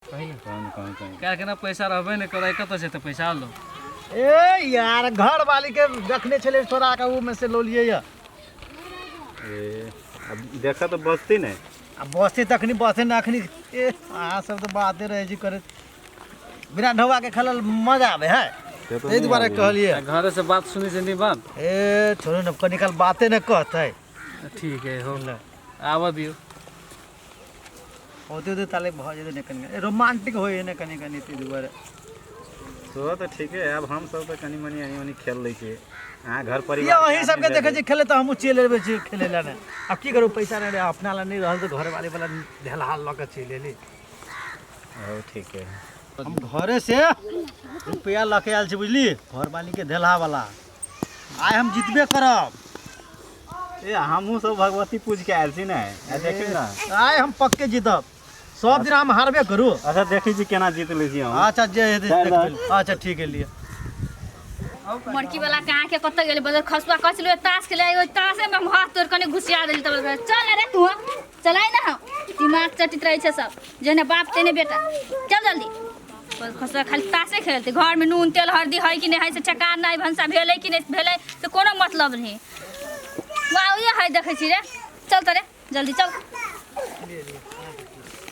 काल्हि ने पैसा रहबे नहि करै कतऽ से तऽ पैसा लो ए यार घर वाली के रखने छले छोड़ा के ऊ में से लो लिए या देखा तो बचते ने आ बसे तखनी बसे ना अखनी ए अहाँ सब तऽ बाते रहै छी करैत बिना ढौआ के खेलल मजा आबे है ताहि दुआरे कहलियै घरे से बात सुनै छै निबन ए छोड़ू ने कनिकाल बाते ने कहतै ठीक है हो आबऽ दियौ होते होते ताले भऽ जेतै ने कनि कनि रोमांटिक होइ है ने कनि कनि ताहि दुआरे सेहो तऽ ठीके है आब हमसभ तऽ कनि मनि एनी ओनी खेल लै छियै अहाँ घर या परिवार अहीं सबके देखै छी खेले तऽ हमहूँ चलि अयबै छी खेले लए ने आब की करू पैसा नहि रहै अपना लए नहि रहल तऽ घरवाली वाला ढेलहाल लऽ कऽ चलि एली ओ ठीके है हम घरे से रुपया लऽ के आयल छी बुझली घरवाली के ढेलहा वाला आइ हम जितबे करब ए हमहूँ सब भगवती पूज के आयल छी ने आ देखी ना आइ हम पक्के जीतब सब दिन हम हारबे करू अच्छा देखी छी केना जीत लै छी हम अच्छा जे हेतै से देख लेब। अच्छा ठीक है लिए मड़की वाला कहाँ के कतऽ गेलै बदल खसुआ कस ले तास के ले तासे में हम हाथ तोड़ कने घुसिया देली तब चल रे तू चलाइ ना हम दिमाग चटित रहै छै सब जेने बाप तेने बेटा चल जल्दी बस खसुआ खाली तासे खेलते घर में नून तेल हल्दी है कि नहीं है से ठेकान नहीं भनसा भेलै कि नहीं भेलै से कोनो मतलब नहीं वाह ये है देखै छी रे चल तरे जल्दी चल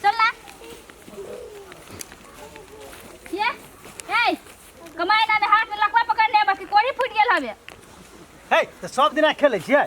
चल ना ये ए कमाई ना में हाथ में लकवा पकड़ ले बाकी कोढ़ी फूट गेल हवे हे तऽ सब दिना खेलै छियै